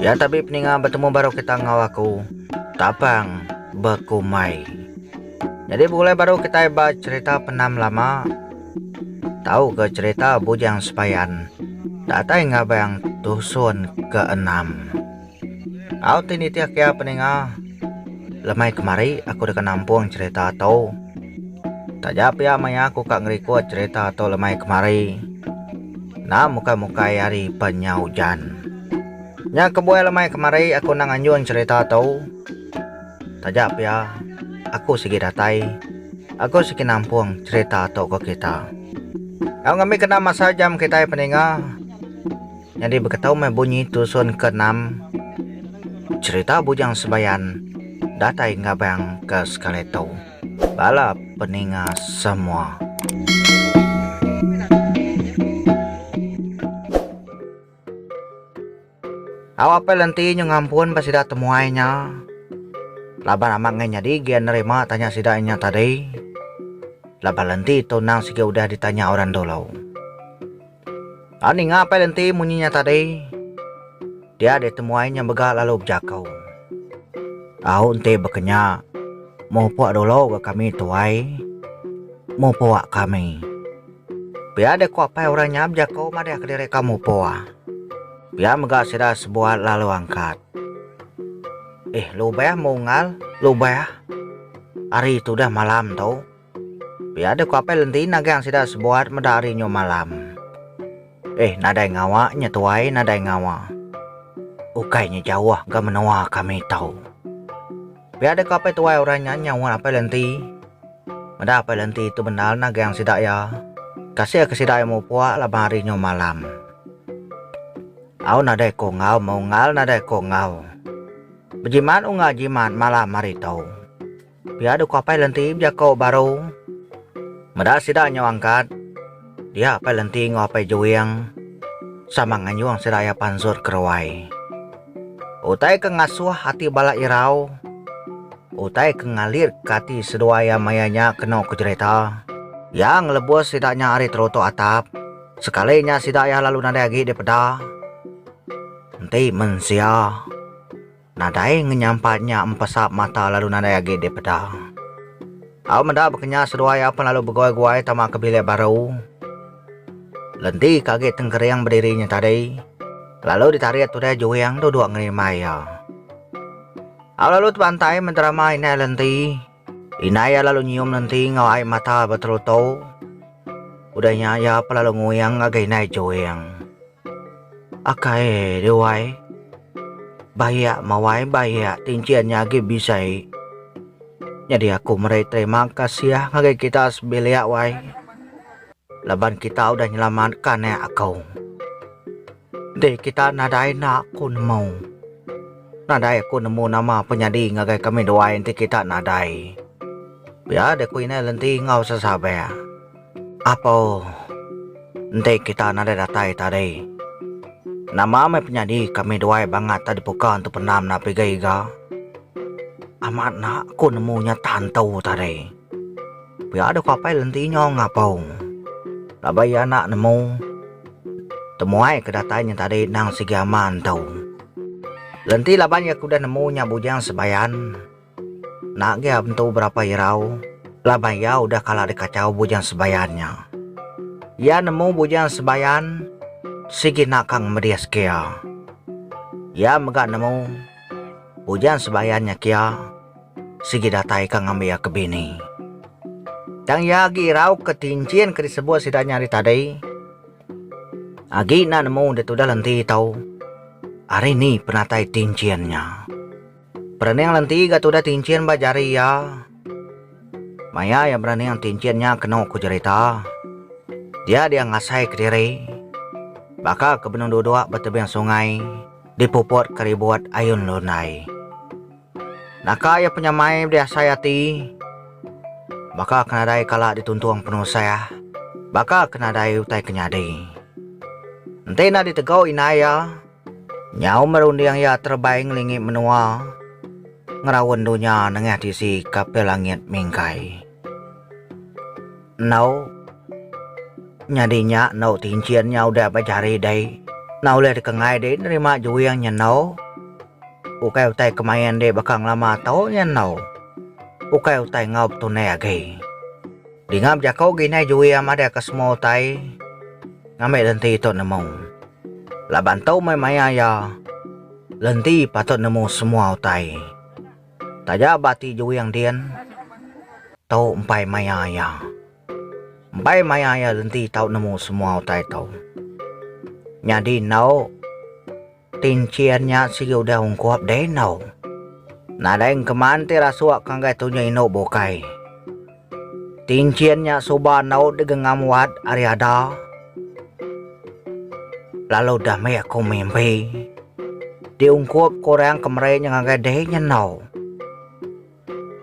Ya tabi peninga betemu baru kita ngau aku tapang bekumai. Jadi begulai baru kita ba cerita penam lama. Tau ke cerita bujang sepayan datai ngabang tusun keenam. Au ti nitih kia peninga. Lemai kemari aku deka nampung cerita tu. Taja pia maya aku ka ngerikut cerita tu lemai kemari. Enda mukai-mukai hari pen nya ujan. Nya kebuai lemai kemari aku enda nganjung cerita tu. Taja pia aku sigi datai aku sigi nampung cerita tu ke kita. Au ngambika enda masa jam kitai peninga. Nyadi beketau meh bunyi tusun ke enam cherita Bujang Sebayan datai ngabang ke sekali tu. Bala peninga semua. Au apai lenti nyu ngampun ba sida temuai nya laban amat enggai nyadi gian nerima tanya sida nya tadi laban lenti tu nang sigi udah ditanya orang dulu. Enda ninga apai le enti munyi nya tadi. Dia deh temuai nya mega lalu bejaku. Au enti bekenya, mupuk dulu ga kami tuai. Mupuk kami. Pia deh ku apai orang nya bejaku madahka diri ka mupuk. Pia mega sida sebuat lalu angkat. Eh lubah mungal, lubah. Hari tu dah malam tu. Pia ada ku Apai Lenti nagang sida sebuat meda hari nyu malam. Eh nadai ngawa nya tuai nadai ngawa. Ukai nya jauh ga menua kami tau. Pia ada ku Apai Tuai orang nya nyaut Apai Lenti. Meda Apai Lenti tu bendar nagang sida iya. Kasih ke sida iya mupuk laban hari nyu malam. Au nadai ku enggau meunggal nadai ku enggau. Bejimat unga jimat malam hari tu. Pia deka Apai Lenti bejako baru. Meda sida nyau angkat, dia Apai Lenti enggau Apai Juing sama nganjung sida iya pansut ke ruai. Utai ke ngasuh ati bala irau, utai ke ngalitka ati seduai iya maya nya kenu ke jerita, iya ngelebus sida nya ari terutuk atap, sekali nya sida iya lalu nadai agi dipeda enti mensia. Nadai ngenyampat nya empesap mata lalu nadai agi dipeda. Au meda baka nya seduai iya pen lalu beguai-guai tama ke bilik baru. Lenti ke agi tengkering bediri nya tadi lalu ditarit udah juing duduk ngerimbai iya. Au lalu tebantai menterama indai Lenti. Indai iya lalu nyium lenti enggau ai mata beterutu. Udah nya iya pun lalu nguing ngagai indai Juing. Akai deh wai. Bayak mawai bayak ti enchin nya agi bisai. Nyadi aku meri terima kasih ngagai kita sebilik wai laban kita udah nyelamatkan anak aku. Deh kita nadai enda aku nemu. Nadai aku nemu nama ape nyadi ngagai kami duai enti kita nadai. Pia deh ku inai lenti enggau sesabek. Apoo. Enti kita nadai datai tadi. Nama meh penyadi kami duai bangat tadi puka entu pendam na piga iga. Amat enda aku nemu nyata entu tadi. Pia deka apai lenti nyau ngapau laban iya enda nemu temuai ke datai nyentadi endang sigi ama entu. Lenti laban iya ke udah nemu nya bujang sebayan enda agi entu berapa irau laban iya udah kala dikachau bujang sebayan nya. Iya nemu bujang sebayan sigi enda ka ngemedis ke iya. Iya mega nemu bujang sebayan nya kia. Sigi datai ka ngambi iya ke bini. Tang iya agi irau ke tinchin ke disebut sida nya ari tadi. Agi enda nemu ditudah lenti tau ari ni penatai tinchin nya. Perening lenti ga tudah tinchin ba jari iya. Maya iya berening tinchin nya kenu ku jerita. Diak dia ngasai kediri. Baka ke benung duduk ba tebing sungai dipuput ke ribut ayun lundai. Naka iya penyamai bedi asai ati. Baka ke nadai kala dituntung penusah. Baka ke nadai utai ke nyadi. Enti enda ditegau indai iya, nyau meh runding iya terebai ngelingi menua ngeraun dunya nengah tisi kapal langit mingkai. Enggau nyadi nya enggau ti enchin nya udah ba jari dei. Enda ulih dikengai dei nerima juing nyenau. Ukai utai ke main dek baka ngelama tau nya enau. Ukai utai enggau betunai agi. Dinga bejako gi nai juing madahka semua utai ngambi lenti tu nemu. Laban tu meh maya iya lenti patut nemu semua utai. Taja ba ti juing din tu empai maya iya. Empai maya iya lenti tau nemu semua utai tu. Nyadi enau Tinchin nya sigi udah ungkup deh endu. Nadai engkeman ti rasuk ngagai tunyi indu bukai. Tinchin nya suba endu digengam wat ari ada. Lalu udah meh aku mimpi. Diungkup ke orang kemeri nya ngagai deh nya endu.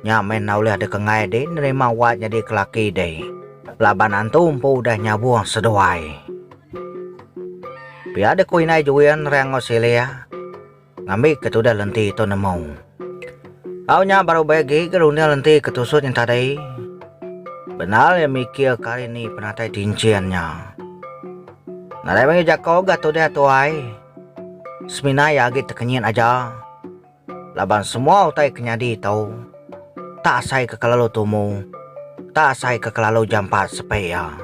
Nya meh enda ulih dekengai deh nerima wak nyadi kelaki deh laban antu empu udah nyabuh seduai. Pia deh ku indai Juin rai enggau Silih ngambi ke tudah lenti tu nemu. Au nya baru bei agi ke runding lenti ke tusut nya tadi. Bendar iya mikir ke ari ni penatai tinchin nya. Nadai mega jako ga tudah tuai. Semina iya agi tekenyit aja. Laban semua utai ke nyadi tu, tak asai ke kelalu tumu, tak asai ke kelalu jampat sepe iya.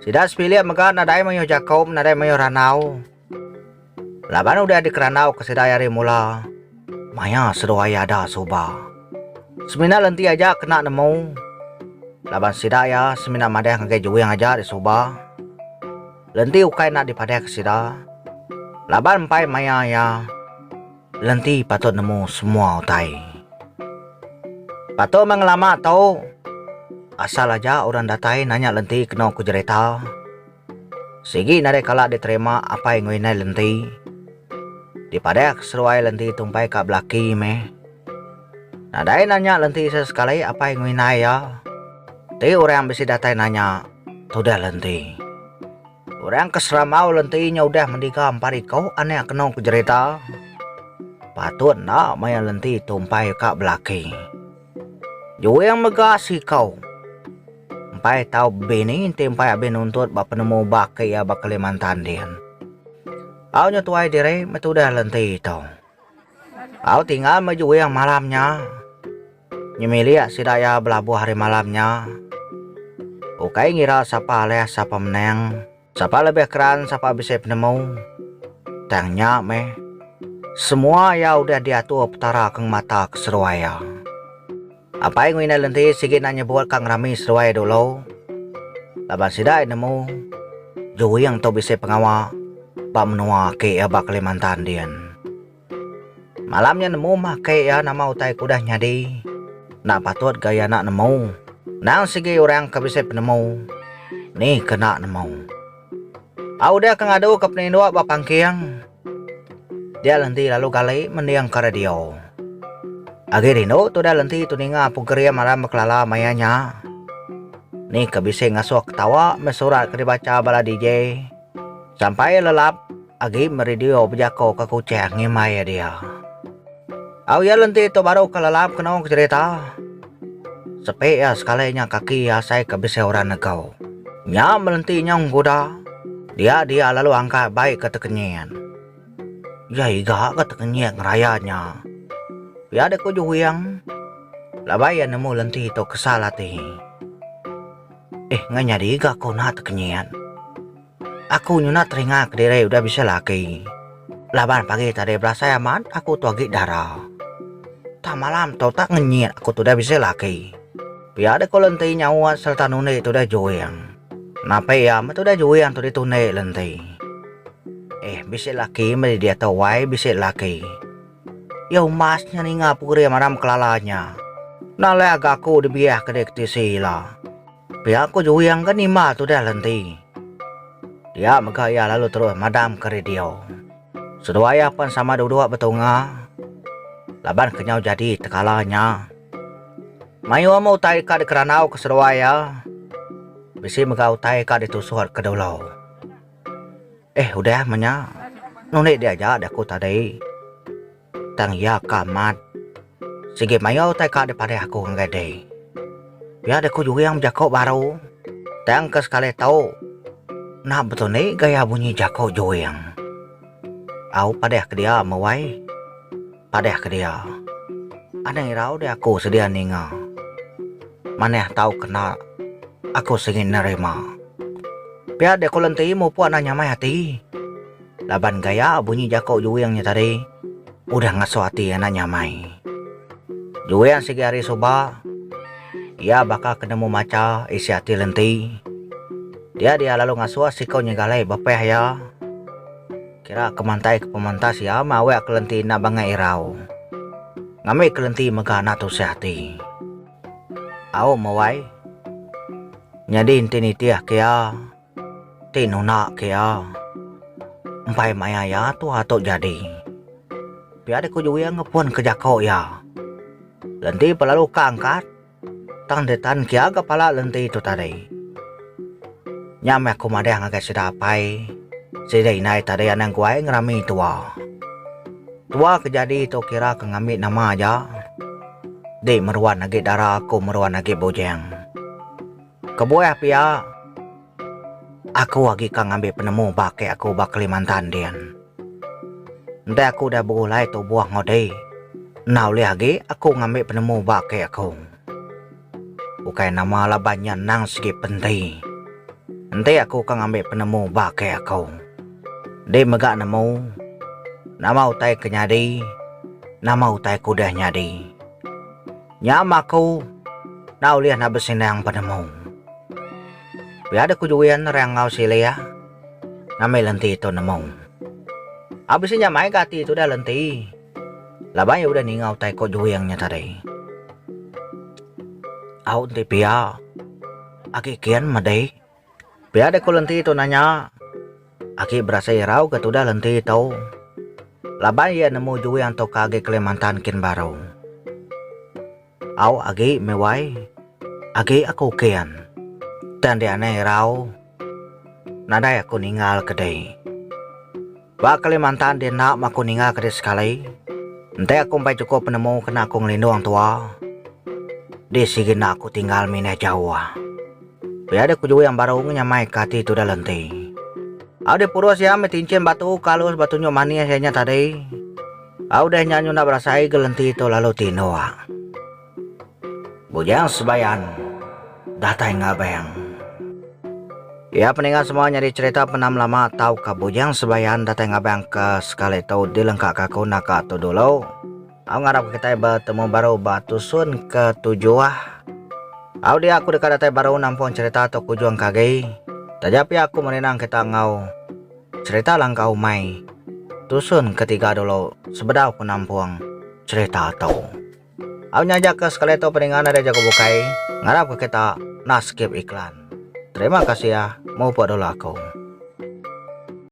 Sida sepilik mega nadai mayuh jaku men nadai mayuh randau. Laban udah dikerandau ke sida ari mula, maya seduai iya ada suba. Semina lenti aja kena nemu, laban sida iya semina madah ngagai juing aja disuba. Lenti ukai enda dipadahka sida, laban empai maya iya Lenti patut nemu semua utai. Patut meh ngelama tu, asal aja orang datai nanya Lenti kenu ku jerita. Sigi nadai kala diterima apai enggau indai Lenti. Dipadahka seruai Lenti tumpai ka belaki meh. Nadai nanya lenti se sekali apai ngerinai iya. Enti orang bisi datai nanya, tudah lenti. Orang ke serambau lenti nya udah mendiga empat iko anak keno ke jerita. Patut enda maya lenti tumpai ka belaki. Juing mega siko. Empai tau bini enti empai abih nuntut ba penemu baki iya ba Kalimantan din. Au nya tuai diri meh tudah lenti tu. Au tinggal meh juing malam nya. Nyemilik sida iya belabuh hari malam nya. Ukai ngira sapa alih sapa menang, sapa lebih keran sapa bisi penemu. Tang nya meh, semua iya udah diatur Petara ke ngemata keseruai iya. Apai enggau indai lenti sigi enda nyebut ka ngerami seduai dulu laban sida ai nemu juing tu bisi pengawa ba menua aki iya ba Kalimantan din. Malam nya nemu mah aki iya nama utai ke udah nyadi enda patut ga iya enda nemu. Endang sigi orang ke bisi penemu ni ke enda nemu. Tau dia ke ngadu ke peninduk ba pangking. Dia lenti lalu gali mending ke radio. Agi rindu tu dia lenti tu ninga program aram bekelala maya nya. Ni ke bisi ngasuh ketawa meh surat ke dibacha bala DJ sampai lelap. Agi meri Dio bejako ke kuchang ngimbai iya dia. Au iya lenti tu baru ke lelap kenong ke cherita. Sepi iya sekali nya kaki iya asai ke bisi orang negau. Nya melenti nyong guda, dia dia lalu angkat bai ke tekenyit. Iya iga ke tekenyit ngeraya nya. Pia dek ku Juwing. Labai iya nemu lenti tu kesal ati. Eh ngai nyadi iga ku nah tekenyit. Aku nyunak telinga kediri udah bisi laki. Laban pagi tadi belasai amat aku tu agi dara. Tang malam tu tak ngenyit aku tu udah bisi laki. Pia deh ko lenti nyaut sereta nundi tu udah juing. Napi iya meh tu udah juing tu ditundi lenti. Eh bisi laki meh di diatu wai bisi laki. Iya umas nya ninga pegeri maram kelala nya. Enda leh aga aku dibiah ke di ke tisi ila. Pia aku juing ke nimba tudah le enti. Dia mega iya lalu terus madam ke radio. Seduai iya pen sama duduk betunga laban kenyau jadi tekala nya. Mayuh meh utai ka dikerandau ke seduai iya. Bisi mega utai ka ditusuk ke dulu. Eh udah meh nya. Nulit diaja da ku tadi. Tang iya ka amat. Sigi mayau utai ka dipadih aku ngagai dei. Pia dei ku Juing bejako baru. Tang ke sekali tu nah betul ni gaya bunyi jako Juing. Au padih ke dia meh wai. Padih ke dia. Anang irau dei aku sedia ninga. Manah tau kena aku sigi nerima. Pia dei ku Lenti mupuk anang nyamai ati. Laban gaya bunyi jaku Juing nya tadi udah ngasuh ati anak nya amai. Juing sigi hari suba iya baka ke nemu macha isi ati Lenti. Tiada iya lalu ngasuh siku nyiga alai bepeh iya. Kira ke mantai ke pemantas iya meh awek ke Lenti enda bangai irau. Ngambi ke Lenti mega enda tusah ati. Au meh wai. Nyadi enti nitih ke iya. Ti nuna ke iya. Empai maya iya tua tu jadi. Pia deh ku Juing ngepun ke jako iya. Lenti pa lalu ka angkat tang deh tan kia ga pala lenti tu tadi. Nya meh aku madah ngagai sida apai sida indai tadi anang guai ngerami tua. Tua ke jadi tu kira ke ngambi nama aja. Di meruan agi dara aku meruan agi bujing. Kebuah pia, aku agi ka ngambi penemu ba aki aku ba Kalimantan din. Enti aku udah begulai tubuh enggau diri, enda ulih agi aku ngambi penemu ba aki aku. Ukai nama laban nya endang sigi penti. Enti aku ka ngambi penemu ba aki aku, di mega nemu, nama utai ke nyadi, nama utai ke udah nyadi. Nya ma aku enda ulih enda besinang penemu. Pia deh ku Juin rang enggau Silik ngambi lenti tu nemu. Au bisi nya mai ga ati tudah lenti laban iya udah ninga utai ku Juin nya tadi. Au enti pia agi kin medi. Pia deh ku lenti tu nanya. Aki berasai irau ke tudah lenti tu. Laban iya nemu juwih antu ka agi Kalimantan kin baru. Au agi meh wai. Agi aku kin. Tang dianai irau. Nadai aku ninggal ke dei. Ba Kalimantan di enda ma aku ninga ke di sekali, enti aku empai chukup penemu kena aku ngelindung tua, di sigi enda aku tinggal mindah jauh. Pia deh ku Juing baru ngenyamai ke ati tudah lenti. Au deh purus iya meh tinchin batu ke alus ba tunjuk manis iya nya tadi. Au deh nya nyunda berasai ke lenti tu lalu tinduk. Bujang Sebayan datai ngabeng. Iya peninga semua nyadi cherita penam lama tauka Bujang Sebayan datai ngabeng ke sekali tu dilengka ka aku naka tu dulu. Au ngarap ka kitai betemu baru ba tusun ke tujuh. Au dia aku deka datai baru nampung cherita tu kujung ka agi. Taja pia aku merinang kita enggau cherita langka umai tusun ke tiga dulu sebedau ku nampung cherita tu. Au nyajakka sekali tu peninga nadai jaku bukai ngarapka kita nah skip iklan. Terima kasih ya mupuk dulu aku.